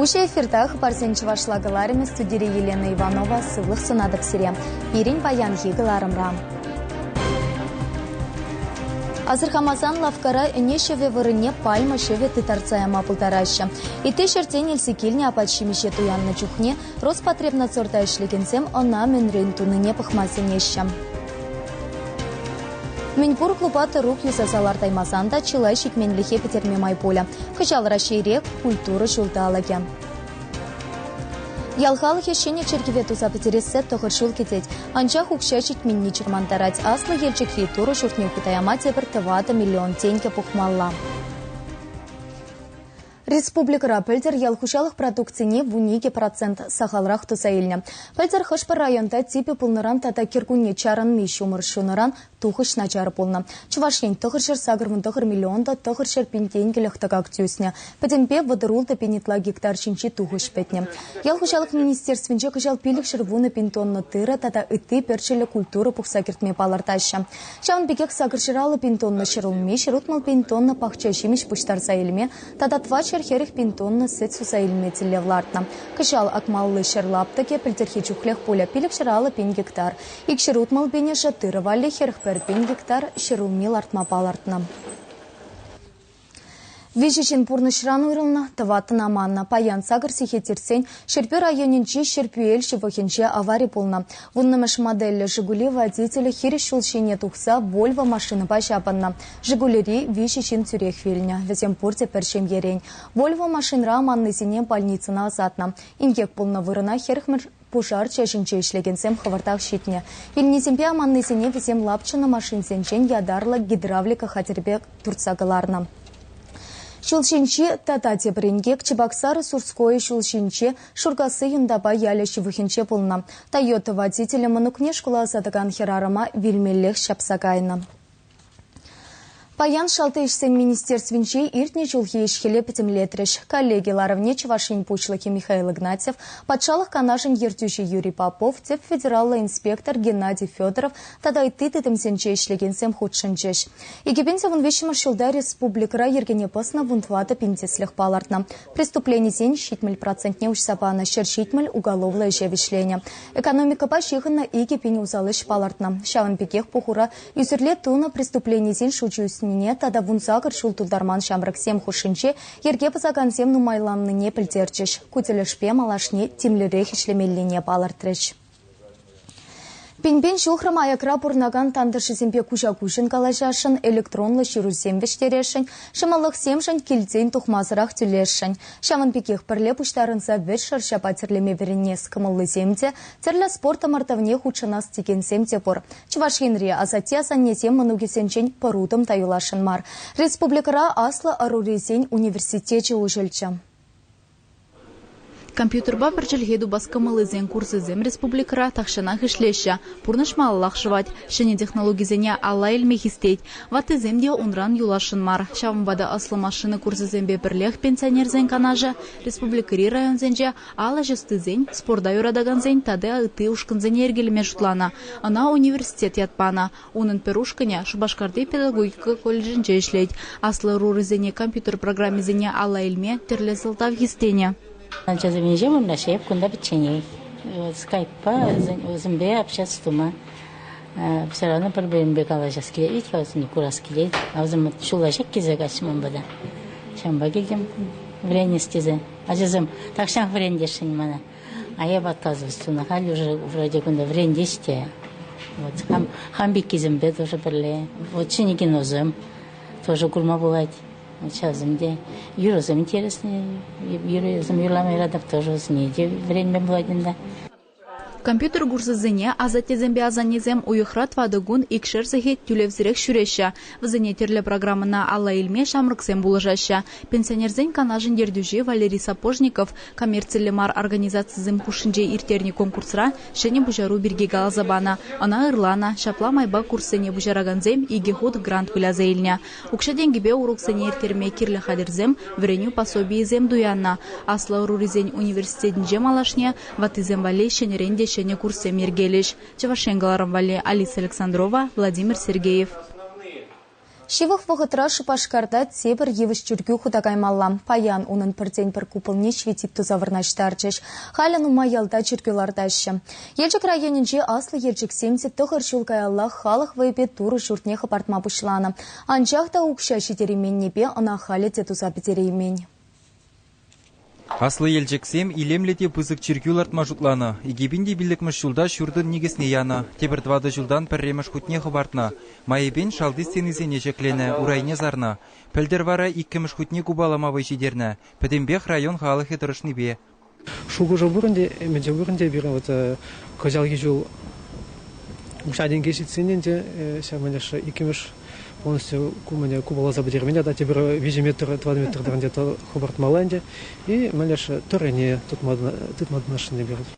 Уҫӑ эфирта хыпарсен чӑвашла кӑларӑмӗ студире Елена Иванова сывлӑх сунатӑп сире пирӗн паянхи кӑларӑмра. Асӑрхамасан лавккара ӗне ҫӑвӗ вырӑнне пальма ҫӑвӗ тытарса яма пултараҫҫӗ. Ытти ҫӗртен илсе килнӗ апат-ҫимӗҫе туяннӑ чухне Роспотребнадзорта ӗҫлекенсем ӑна мӗнрен тунине пӑхма сӗнеҫҫӗ. Мӗнпур клуба тӑрук юсаса лартаймасан та чылай ҫитменлӗхе пӗтерме май пулӗ. Кӑҫал Раҫҫейре культура ҫулталӑкӗ. Ял халӑхӗ ҫӗнӗ чиркӗве туса пӗтерессе тӑхӑр ҫул кӗтет. Анчах укҫа ҫитменни чӑрмантарать. Аслӑ Елчӗкри Турӑ ҫуртне хута яма тепӗр тӑватӑ миллион тенкӗ пухмалла. Республикӑра пӗлтӗр ял хуҫалӑх продукцине вун икӗ процент сахалрах туса илнӗ. Пӗлтӗр хӑш-пӗр районта типӗ пулнӑран тата кӗркунне чарӑнми ҫумӑр ҫунӑран Тухӑҫ начар пулнӑ. Чӑваш Ен тӑхӑрҫӗр сакӑрмӑн тӑхӑр миллион та тӑхӑрҫӗр пин тенкӗлӗх тӑкак тӳснӗ. Пӗтӗмпе вӑтӑр-ултӑ пин ытла гектар ҫинчи тухӑҫ пӗтнӗ. Ял хуҫалӑх министерствинче кӑҫал пилӗкҫӗр вунӑ пин тонна тырӑ тата ытти перчӗллӗ культура пухса кӗртме палӑртаҫҫӗ. Ҫавӑн пекех сакӑрҫӗр аллӑ пин тонна ҫӗр улми, ҫӗр утмӑл пин тонна пахча ҫимӗҫ пуҫтарса илме тата тӑват ҫӗр хӗрӗх пин тонна сӗт суса илме тӗллев лартнӑ. Кӑҫал акмалли ҫӗр лаптӑкӗ пӗлтӗрхи чухлех пулӗ, пилӗкҫӗр аллӑ пин гектар. Икҫӗр утмӑл пинӗшӗ тырӑ валли хӗр пӗр пин гектар ҫӗр улми лартма палӑртнӑ. Виҫӗ ҫын пурнӑҫран уйрӑлнӑ, тӑваттӑн аманнӑ. Паян сакӑр сехет иртсен Ҫӗрпӳ районӗнчи Ҫӗрпӳел ҫывӑхӗнче авари пулнӑ. Вуннӑмӗш модельлӗ «Жигули» водителӗ хирӗҫ ҫул ҫине тухса Вольво машинӑпа ҫапӑннӑ. «Жигулири» виҫӗ ҫын тӳрех вилнӗ. Вӗсем пурте пӗр ҫемьерен. Вольво машинра аманнисене больницӑна ӑсатнӑ. Инкек пулнӑ вырӑна хӗрӗх Пушар чаҫӗнче ӗҫлекенсем хӑвӑртах ҫитнӗ. Илнисемпе аманнисене вӗсем лапчӑннӑ машинсенчен ятарлӑ гидравлика хатӗрпе туртса кӑларнӑ. Ҫул ҫинчи тата тепӗр инкек Чебоксар-Сурское ҫул ҫинче, Шуркасси Юнтапа ялӗ ҫывӑхӗнче пулнӑ. Тойота водителӗ мӑнукне шкула ӑсатакан хӗрарӑма вилмеллех ҫапса кайнӑ. Паян Шалти ӗҫсен министерствинче иртнӗ ҫулхи ӗҫ-хӗле пӗтӗмлетрӗҫ. Коллеги ларӑвне Чӑваш Ен Пуҫлӑхӗ Михаил Игнатьев, Патшалӑх Канашӗн Ертӳҫи Юрий Попов, тӗп федераллӑ инспектор Геннадий Федоров тата ытти тытӑмсенче ӗҫлекенсем хутшӑнчӗҫ. Икӗпин-севен виҫҫӗмӗш ҫулта республикӑра йӗркене пӑснӑ вун тӑватӑ пин тӗслӗх палӑртнӑ. Преступленисен ҫитмӗл процентне уҫса панӑ ҫӗр ҫитмӗл уголовлӑ ӗҫе вӗҫленӗ. Экономикӑпа ҫыхӑннӑ икӗ пин усал ӗҫ палӑртнӑ. Ҫавӑн пекех пухура Ӳсӗрле тунӑ преступленисен шучӗ ӳснине тата вунсакӑр ҫул тултарман ҫамрӑксем хушшинче йӗрке пӑсакансем нумайланнине пӗлтерчӗҫ. Ку тӗлӗшпе малашне тимлӗрех ӗҫлемеллине палӑртрӗҫ. Пин-пин ҫухрӑм аякра пурӑнакан тантӑшӗсемпе куҫа-куҫӑн калаҫасшӑн, электронлӑ ҫырусем вӗҫтересшӗн, ҫӑмӑллӑхсемшӗн килтен тухмасӑрах тӳлесшӗн. Ҫавӑн пекех пӗрле пуҫтарӑнса вӗҫ шӑрҫапа тӗрлеме вӗренес кӑмӑллисем те Тӗрлӗ спорт ӑмӑртӑвне хутшӑнас текенсем те пур. Чӑваш Енри асатте-асаннесем мӑнукӗсенчен пӗр утӑм та юласшӑн мар. Республикӑра аслӑ ӑрурисен университечӗ уҫӑлчӗ. Компьютерпа пӗр чӗлхе тупас кӑмӑллисен курсӗсем республикӑра тахҫанах ӗҫлеҫҫӗ. Пурнӑҫ малаллах шӑвать, ҫӗнӗ технологисене алла илме хистет. Ваттисем те унран юласшӑн мар. Ҫавӑнпа та ӑслӑ машина курсӗсемпе пӗрлех пенсионерсен канашӗ республикӑри районсенче Ал ӗҫ ӑстисен, спорта юратакансен тата ытти ушкӑнсене йӗркелеме шутланӑ. Ӑна университет ят панӑ. Унӑн пӗр ушкӑнӗ Шупашкарти педагогика колледжӗнче ӗҫлет. Аслӑ ӑрурисене компьютер программисене алла илме тӗрлӗ сӑлтав хистенӗ. Ачасем ӗҫе вырнаҫҫӗ эп кунта пӗчченех. Скайппа вӗсемпе общаться тума все равно пӗр-пӗринпе калаҫас килет вӗт-ха, вӗсене курас килет. А вӗсем ҫулла ҫак килсе каҫҫӗ ман пата. Ҫавӑнпа килтӗм вӗренес тесе. Ачасем тахҫан вӗрентесшӗн мана. А я подказывать тунӑ. Халь уже вроде кунта вӗрентес те. Вот хам, хам пеккисемпе тоже пӗрле. Вот ҫӗнӗ киносем тоже курма пулать. Ачасем те, юрӑсем интересные, юрӑсем юрлама юратах тоже вӗренме пулать ӗнтӗ. Компьютер курсӗсене асаттесемпе асаннесем уйӑхра тӑватӑ кун, икшер сехет тӳлевсӗрех ҫӳреҫҫӗ. Вӗсене тӗрлӗ программӑна алла илме ҫамрӑксем пулӑшаҫҫӗ. Пенсионерсен канашӗн ертӳҫи Валерий Сапожников коммерцилле мар организацисем хушшинче ирттернӗ конкурсра ҫӗнӗ пуҫару пирки каласа панӑ. Ӑна ырланӑ, ҫапла майпа курссене пуҫаракансем икӗ хут грант выляса илнӗ. Укҫа-тенкӗпе уроксене ирттерме кирлӗ хатӗрсем, вӗренӳ пособийӗсем туяннӑ. Аслӑ ӑрурисен университетӗнче малашне Ваттисем валли ҫӗнӗрен те ҫӗнӗ курссем йӗркелӗҫ. Чӑваш Ен кӑларӑм валли Алиса Александрова, Владимир Сергеев. Ҫывӑх вӑхӑтра Шупашкарта тепӗр йывӑҫ чиркӳ хута каймалла. Паян унӑн пӗртен-пӗр купӑлне ҫветит туса вырнаҫтарчӗҫ. Халӗ нумай ялта чиркӳ лартаҫҫӗ. Елчӗк районӗнче аслӑ Елчӗксем те тӑхӑр ҫул каяллах халӑх вӑйӗпе Турӑ ҫуртне хӑпартма пуҫланӑ. Анчах та укҫа ҫитерейменнипе ӑна халӗ те туса пӗтереймен. Аслӑ Елчӗксем илемлӗ те пысӑк чиркӳ лартма шутланӑ. Икӗ пин те пиллӗкмӗш ҫулта ҫуртӑн никӗсне янӑ, тепӗр тӑватӑ ҫултан пӗрремӗш хутне хӑпартнӑ. Майӗпен шалти стенисене ҫӗкленӗ, урайне сарнӑ. Пӗлтӗр вара иккӗмӗш хутне купалама вӑй ҫитернӗ. Пӗтӗмпех район халӑхӗ тӑрӑшнипе. Шухӑшӑ пурӑн те, ӗмӗчӗ пурӑн те пирӗн вӑт кӑҫалхи ҫул. Укҫа-тенке ҫитсен ӗнтӗ ҫавӑн тӑрӑх иккӗмӗш полностью ку мӗне купаласа пӗтермен тата тепӗр виҫӗ метр тӑватӑ метр тӑрӑнчӗ хӑпартмалла ӗнтӗ и мӗн леш тӑррине тытма тытмашӑнни пирус.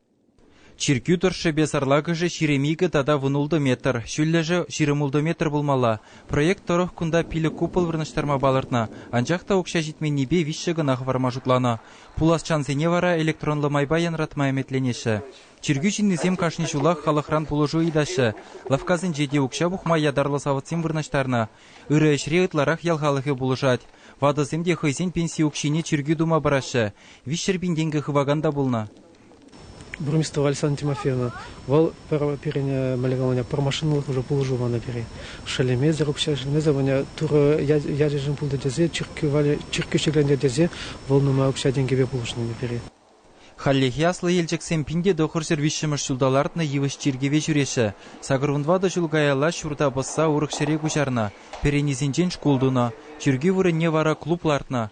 Чиркӳ тӑршшӗпе сарлакӑшӗ ҫирӗм икӗ тата вунултӑ метр, ҫӳллӗшӗ ҫирӗм ултӑ метр пулмалла. Проект тӑрӑх кунта пилӗк купол вырнаҫтарма палӑртнӑ, анчах та укҫа ҫитменнипе виҫҫӗ кӑна хӑварма шутланӑ. Пуласчансене вара электронлӑ майпа янратма ӗмӗтленеҫҫӗ. Чиркӳ ҫыннисем кашни ҫулах халӑхран пулӑшу ыйтаҫҫӗ. Лавккасенче те укҫа пухма ятарлӑ савӑтсем вырнаҫтарнӑ. Ырӑ ӗҫре ытларах ял халӑхӗ пулӑшать. Ватӑсем те хӑйсен пенси укҫине чиркӳ тума параҫҫӗ. Виҫҫӗр пин тенкӗ хывакан та пулнӑ. Бурмистоваль Сан Тимофеевна, вӑл пӗр пирӗн мӗлӗкаманя пӗр машинӑлӑх уже пулӑшу панӑ пире. Шеллемесӗр, укҫа шеллемесӗр вӑня Турӑ ячӗшӗн пултӑ тесе чиркӳ валли чиркӳ ҫӗкленчӗ тесе вӑл нумай укҫа-тенкӗпе пулӑшнӑ пире. Хальлӗхе Аслӑ Елчӗксем пин те тӑхӑрҫӗр виҫҫӗмӗш ҫулта лартнӑ йывӑҫ чиркӗве ҫӳреҫҫӗ. Сакӑр вун тӑватӑ ҫул каялла ҫурта пӑсса урӑх ҫӗре куҫарнӑ, пӗренисенчен шкул тунӑ. Чиркӳ вырӑнне вара клуб лартнӑ.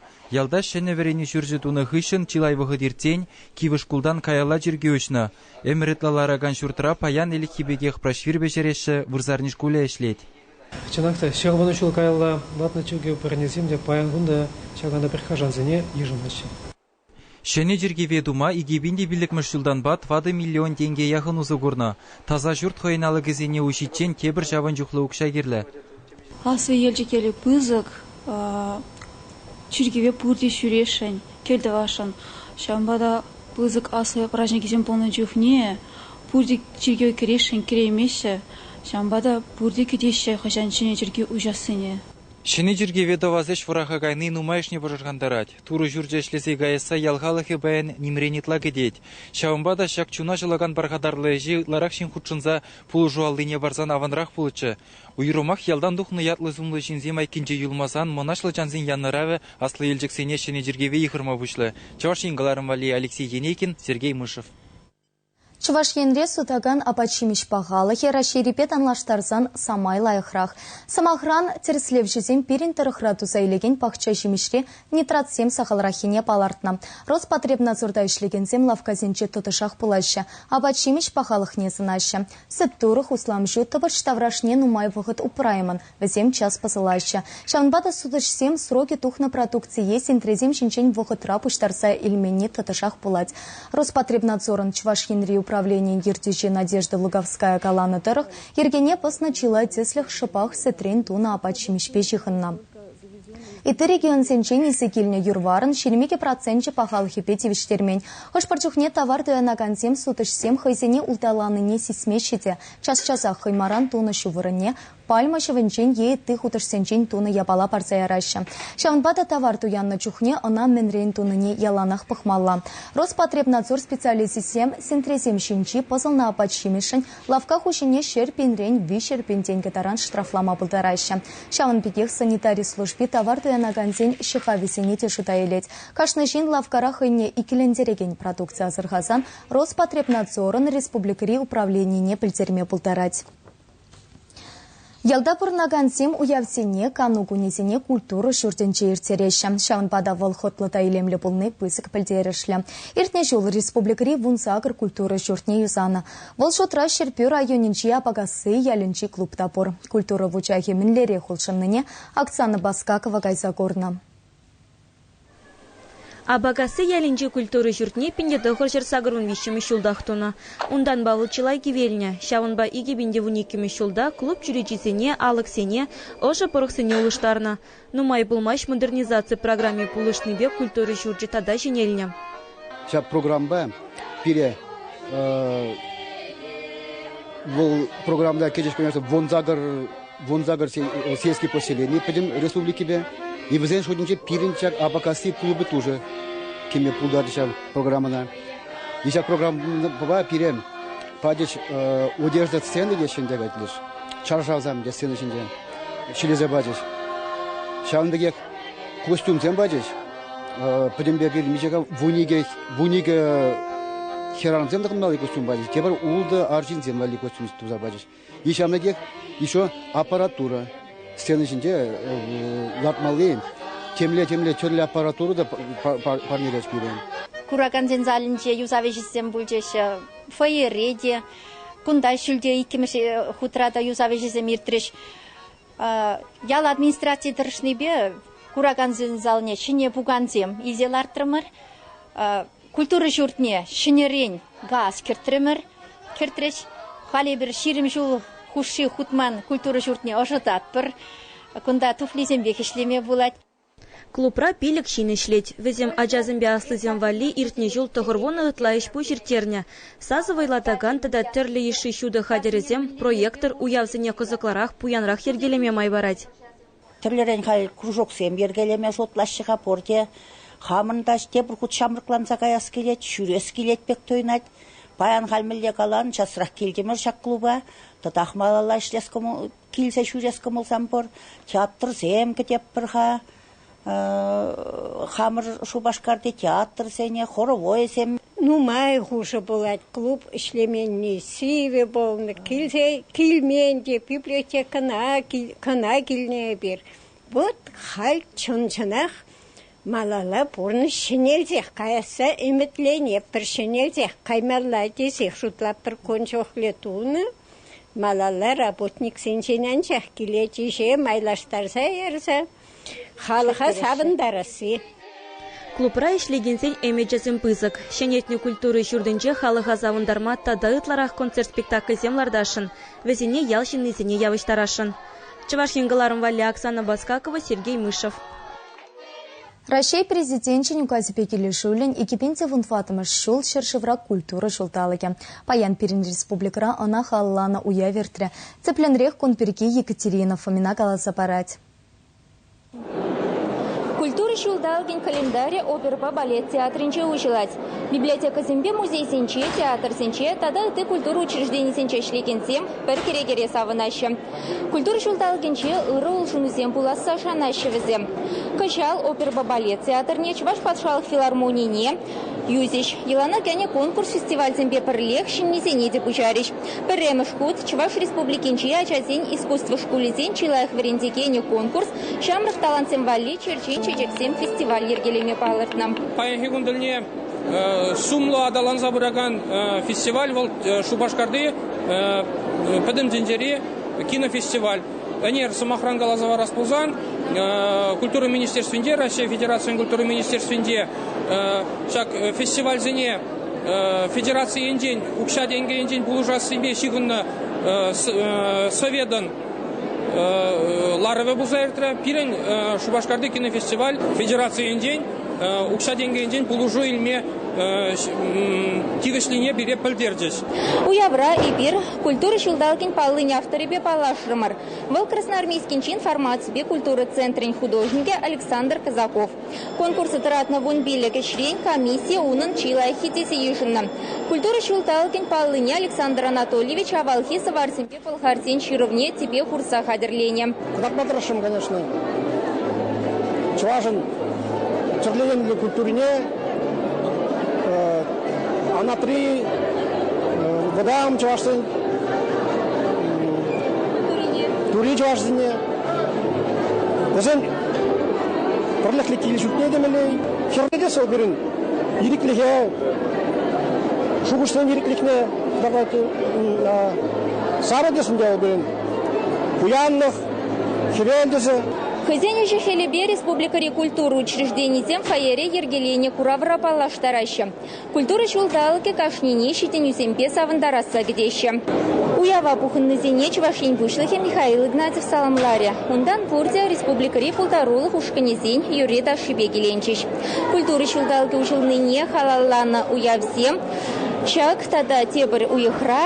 Ялта ҫӗнӗ вӗренӳ ҫурчӗ тунӑ хыҫҫӑн чылай вӑхӑт иртсен кивӗ шкултан каялла чиркӳ уҫнӑ. Ӗмӗр ытла ларакан ҫуртра паян ӗлӗкхи пекех праҫвир пӗҫереҫҫӗ, вырсарни шкулӗ ӗҫлет. Чӑнах та, ҫӑкӑлвунӑ ҫул каялла лартнӑ чиркӳ пӗренисем те паян кун та ҫакна та пӗрхашансене йышӑнаҫҫӗ. Ҫӗнӗ чиркӗве тума икӗ пин те пиллӗкмӗш ҫултанпа тӑватӑ миллион тенке яхӑн усӑ курнӑ. Таса ҫурт хӑйӗн алӑкӗсене уҫиччен тепӗр ҫавӑн чухлӗ укҫа кирлӗ. Аслӑ Елчӗкелле пысӑк чиркӗве пурте ҫӳресшӗн, кӗлтӑвасшӑн. Ҫавӑнпа та пысӑк аслӑ праҫникӗсем пулнӑ чухне пурте чиркӗве кӗресшӗн, кӗреймеҫҫӗ. Ҫавӑнпа та пурте кӗтеҫҫӗ хӑҫан ҫӗнӗ чиркӳ уҫассине. Ҫӗнӗ чиркӗве тӑвас ӗҫ вӑраха кайни нумайӑшне пӑшӑрхантарать. Турӑ ҫурчӗ ӗҫлесе каясса ял халӑхӗ паян нимрен ытла кӗтет. Ҫавӑнпа та ҫак чуна ҫӑлакан пархатарлӑ ӗҫе ытларах ҫын хутшӑнса пулӑшу аллине парсан аванрах пулӗччӗ. Уйрӑмах ялтан тухнӑ ятлӑ-сумлӑ ҫынсем айккинче юлмасан мӑнаҫлӑ чансен янӑравӗ аслӑ Елчӗксене ҫӗнӗ чиркӗве йыхӑрма пуҫлӗ, Чӑваш Ен кӑларӑмвалли Алексей Енейкин, Сергей Мышев. Чӑваш Енре сутакан апат-ҫимӗҫ пахалӑхӗ Раҫҫейрипе танлаштарсан самай лайӑхрах. Сӑмахран, тӗрӗслевҫӗсем пирӗн тӑрӑхра туса илекен пахча ҫимӗҫре нитратсем сахалраххине палӑртнӑ. Роспотребнадзорта ӗҫлекенсем лавккасенче тӑтӑшах пулаҫҫӗ, апат-ҫимӗҫ пахалӑхне сӑнаҫҫӗ. Сӗт-турӑх, усламҫу, тӑпӑч таврашне нумай вӑхӑт упраймӑн, Вӗсем час пӑсӑлаҫҫӗ. Ҫавӑнпа та сутӑҫсем срокӗ тухнӑ продукцие сентресем ҫинчен вӑхӑтра пуҫтарса илменни тӑтӑшах пулать. Роспотребнадзорӑн Чӑваш Енри управленийӗн ертӳҫи Надежда Луговская каланӑ тӑрӑх, йӗркене пӑснӑ чылай тӗслӗх шӑпах сӗтрен тунӑ апат-ҫимӗҫпе ҫыхӑннӑ. Ытти регионсенчен илсе килнӗ юр-варӑн ҫирӗм икӗ проценчӗ пахалӑхӗпе тивӗҫтермен. Хӑш-пӗр чухне тавар туянакансем сутӑҫсем хӑйсене улталанине сисмеҫҫӗ те час-часах хӑймаран тунӑ ҫу вырӑнне Пальма ҫӑвӗнчен е ытти хутӑшсенчен тунӑ япала парса яраҫҫӗ. Ҫавӑнпа та тавар туяннӑ чухне ӑна мӗнрен тунине яланах пӑхмалла. Роспотребнадзор специалисчӗсем сентресем ҫинчи пӑсӑлнӑ апат-ҫимӗҫшӗн лавкка хуҫине ҫӗр пинрен виҫҫӗр пин тенкӗ таран штрафлама пултараҫҫӗ. Ҫавӑн пекех санитари служби тавар туянакансен ҫӑхавӗсене те шута илет. Кашни ҫын лавккара хӑйне иккӗлентерекен продукци асӑрхасан Роспотребнадзорӑн республикӑри управленине пӗлтерме пултарать. Ялта пурӑнакансем уявсене, кану кунӗсене культура ҫуртӗнче ирттереҫҫӗ. Ҫавӑнпа та вӑл хӑтлӑ та илемлӗ пулни пысӑк пӗлтерӗшлӗ. Иртнӗ ҫул республикӑри вунсакӑр культура ҫуртне юсанӑ. Вӑл шутра Ҫӗрпӳ районӗнчи Апакасси ялӗнчи клуб та пур. Культура вучахӗ мӗнлерех улшӑннине Оксана Баскакова кайса курнӑ. Апакасси ялӗнчи культура ҫуртне пинте тӑхӑрҫӗр сакӑрвун виҫҫӗмӗш ҫултах тунӑ. Унтанпа вӑл чылай кивелнӗ. Ҫавӑнпа икӗ пинте вун иккӗмӗш ҫулта клуб чӳречисене, алӑксене, ӑшӑ пӑрӑхсене улӑштарнӑ. Нумай пулмасть модернизаци программи пулӑшнипе культура ҫурчӗ тата ҫӗнелнӗ. Ҫак программӑпа пире вӑл программӑна кӗтӗҫ вунсакӑр вунсакӑр сельский поселени пӗтӗм республикипе. И вӗсен шутӗнче пирӗн ҫак Апакасси клубӗ тоже кӗме пултарать ҫав программӑна. И ҫак программӑпа пире патӗҫ одежда сцены те ҫӗнте кайтлӗш. Чаршавсам те сцена ҫинче ҫӗлесе пачӗҫ. Ҫавӑн пекех костюмсем пачӗҫ. Пӗтӗм пек мичӗка вуникӗ, вуникӗ хӗрарӑмсем тӑхӑнмалли костюм пачӗҫ. Тепӗр ултӑ арҫынсем валли костюм туса пачӗҫ. И ҫамрӑкех еще аппаратура. Сцена ҫинче лартмалли темле-темле тӗрлӗ аппаратура та парнелес пирӗн. Куракансен залӗнче юсав ӗҫӗсем пулчӗҫ. Фойере те. Кунта ҫӳлте иккӗмӗш хутра та юсав ӗҫӗсем иртрӗҫ. Ял администрацийӗ тӑрӑшнипе куракансен залне ҫӗнӗ пукансем илсе лартрӑмӑр. Культура ҫуртне ҫӗнӗрен газ кӗртрӗмӗр. Кӗртрӗҫ. Халӗ эпир ҫирӗм ҫул хушши хутман культура ҫуртне ӑшӑтатпӑр. Кунта туфлисемпех ӗҫлеме пулать. Клубра пилӗк ҫын ӗҫлет. Вӗсем ачасемпе аслисем валли иртнӗ ҫул тӑхӑрвунӑ ытла ӗҫ-пуҫ ирттернӗ. Сасӑ вӑйлатакан тата тӗрлӗ йышши ҫутӑ хатӗрӗсем проектор уявсене кӑсӑклӑрах, пуянрах йӗркелеме май парать. Тӗрлӗрен халь кружоксем йӗркелеме шутлаҫҫӗ-ха пурте. Хамӑн та тепӗр хут ҫамрӑкланса каяс килет, ҫӳрес килет пек туйӑнать. Паян халь мӗнле калан, часрах килтӗмӗр ҫак клуба, тӑтах малалла ӗҫлес Килсе ҫӳрес кӑмӑлсам пур. Театрсем кӗтеппӗр-ха. Хамӑр Шупашкарти театрсене, хоровойсем. Нумай хушӑ пулать клуб ӗҫлеменни. Сивӗ пулнӑ. Килсе килмен те, библиотекӑна кӑна килнӗ эпир. Вот халь чӑн-чӑнах Малалла пурнӑҫ ҫӗнелсех каясса ӗмӗтленетпӗр, ҫӗнелсех каймалла тесех шутлатпӑр кун чухлӗ тунӑ. Малалла работниксенчен анчах килет ӗҫе майлаштарса ярса халӑха савӑнтарасси. Клубра ӗҫлекенсен ӗмӗчӗсем пысӑк. Ҫӗнетнӗ культура ҫуртӗнче халӑха савӑнтарма тата ытларах концерт-спектакльсем лартасшӑн, вӗсене ял ҫыннисене явӑҫтарасшӑн. Чӑваш Ен кӑларӑм валли Оксана Баскакова, Сергей Мышев. Раҫҫей Президенчӗн указӗпе килӗшӳллӗн икӗ пин те вунтӑваттӑмӗш ҫул ҫӗршывра культура ҫулталӑкӗ паян пирӗн республикӑра ӑна халалланӑ уяв иртрӗ. Тӗплӗнрех кун пирки Екатерина Фомина каласа парать. Культура ҫулталӑкӗн календарӗ оперӑпа балет театрӗнче уҫӑлать. Библиотекӑсемпе музейсенче, театрсенче тата ытти культура учрежденийӗсенче ӗҫлекенсем пӗр кӗрекере савӑнаҫҫӗ. Культура ҫулталӑкӗнче ырӑ улшӑнусем пуласса шанаҫҫӗ вӗсем. Кӑҫал оперӑпа балет театрне, Чӑваш патшалӑх филармонине юсӗҫ. Йӑлана кӗнӗ конкурс-фестивальсемпе пӗрлех ҫыннисене те пуҫарӗҫ. Пӗрремӗш хут Чӑваш Республикинчи ачасен искусство шкулӗсен чи лайӑх вӗрентекенӗ конкурс Ҫамрӑк талантсем валли черчен чечексем фестиваль йӗркелеме палӑртнӑ. Паянхи кун тӗлне сумлӑ аталанса пыракан фестиваль вӑл Шупашкарти Пӗтӗм тӗнчери кинофестиваль. Ӗнер, сӑмахран каласа парас пулсан, Культура министерствинче, Раҫҫей Федерацийӗн Культура министерствинче ҫак фестивальсене федераци енчен, укҫа-тенкӗ енчен пулӑшассипе ҫыхӑннӑ советӑн ларӑвӗ пулса иртрӗ. Пирӗн Шупашкарти кинофестиваль федерацийӗнчен укҫа-тенкӗ пулӑшу илме тивӗҫлине пире пӗлтерчӗҫ. Уявра эпир Культура ҫулталӑкӗн паллин авторӗпе паллашрӑмӑр. Вӑл Красноармейскинчи информаципе культура центрӗн художникӗ Александр Казаков. Конкурса тӑратнӑ вун пиллӗк ӗҫрен комиссия унӑн чи лайӑххи тесе йышӑннӑ. Культура ҫулталӑкӗн паллине Александр Анатольевич авалхи сӑварсемпе Пӑлхарсен ҫырӑвне тӗпе хурса хатӗрленӗ. Кӑтартма тӑрӑшрӑм, конечно. Чӑвашӑн тӗрленӗ культурине Анатри вӑтам чӑвашсен тури чӑвашсене вӗсен пӗрлӗхлӗ кил-ҫуртне те мелей хӗрлетес вӑл пирӗн ирӗклӗхе шухӑшсен ирӗклӗхне Давайте сарӑтӗшӗн те пулин пуянлӑх, хӗвелтӗшӗ. Хӑйсен ӗҫӗ-хӗлӗпе республикӑри культура учрежденийӗсем фойере йӗркеленӗ куравра паллаштараҫҫӗ. Культура ҫулталӑкӗ кашнине ҫитӗнӳсемпе савӑнтарасса кӗтеҫҫӗ. Уява пухӑннисене Чӑваш Ен Пуҫлӑхӗ Михаил Игнатьев саламларӗ. Унтан пурте республикӑри пултарулӑх ушкӑнӗсен юрри-ташшипе киленчӗҫ. Культура ҫулталӑкӗ уҫӑлнине халалланӑ уявсем Ҫак тата тепӗр уйӑхра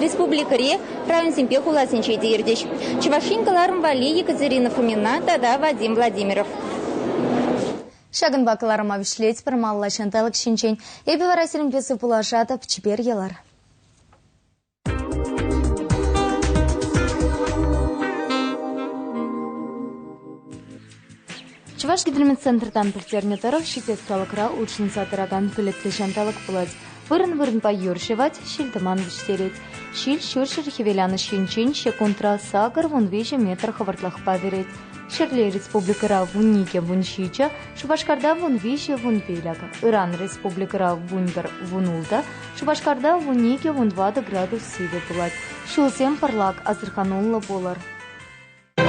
республикӑри районсемпе хуласенче те иртӗҫ Чӑваш Ен кӑларӑм валли Екатерина Фомина тата Вадим Владимиров. Ҫакӑнпа кӑларӑма вӗҫлетпӗр малла ҫанталӑк ҫинчен. Эпӗ вара сирӗнпе сывпуллашатӑп, чипер йӑлар. Чӑваш гидрометцентртан пӗлтернӗ тӑрӑх ҫитес салӑкра улшӑнса тӑракан пӗлӗтлӗ ҫанталӑк пулать. Вырӑн-вырӑнпа юр ҫӑвать, ҫил-тӑман вӗҫтерет. Ҫил ҫурҫӗр хӗвеланӑҫ енчен секундра сакӑр вун виҫӗ метр хӑвӑртлӑхпа вӗрет. Ҫӗрле республикӑра вун икӗ, вун ҫичӗ, Шупашкарта вун виҫӗ, вун пилӗк, ыран республикӑра вун пӗр, вун ултӑ, Шупашкарта вун икӗ, вун тӑватӑ градус сивӗ пулать. Ҫулсем пӑрлак, асӑрхануллӑ пулӑр.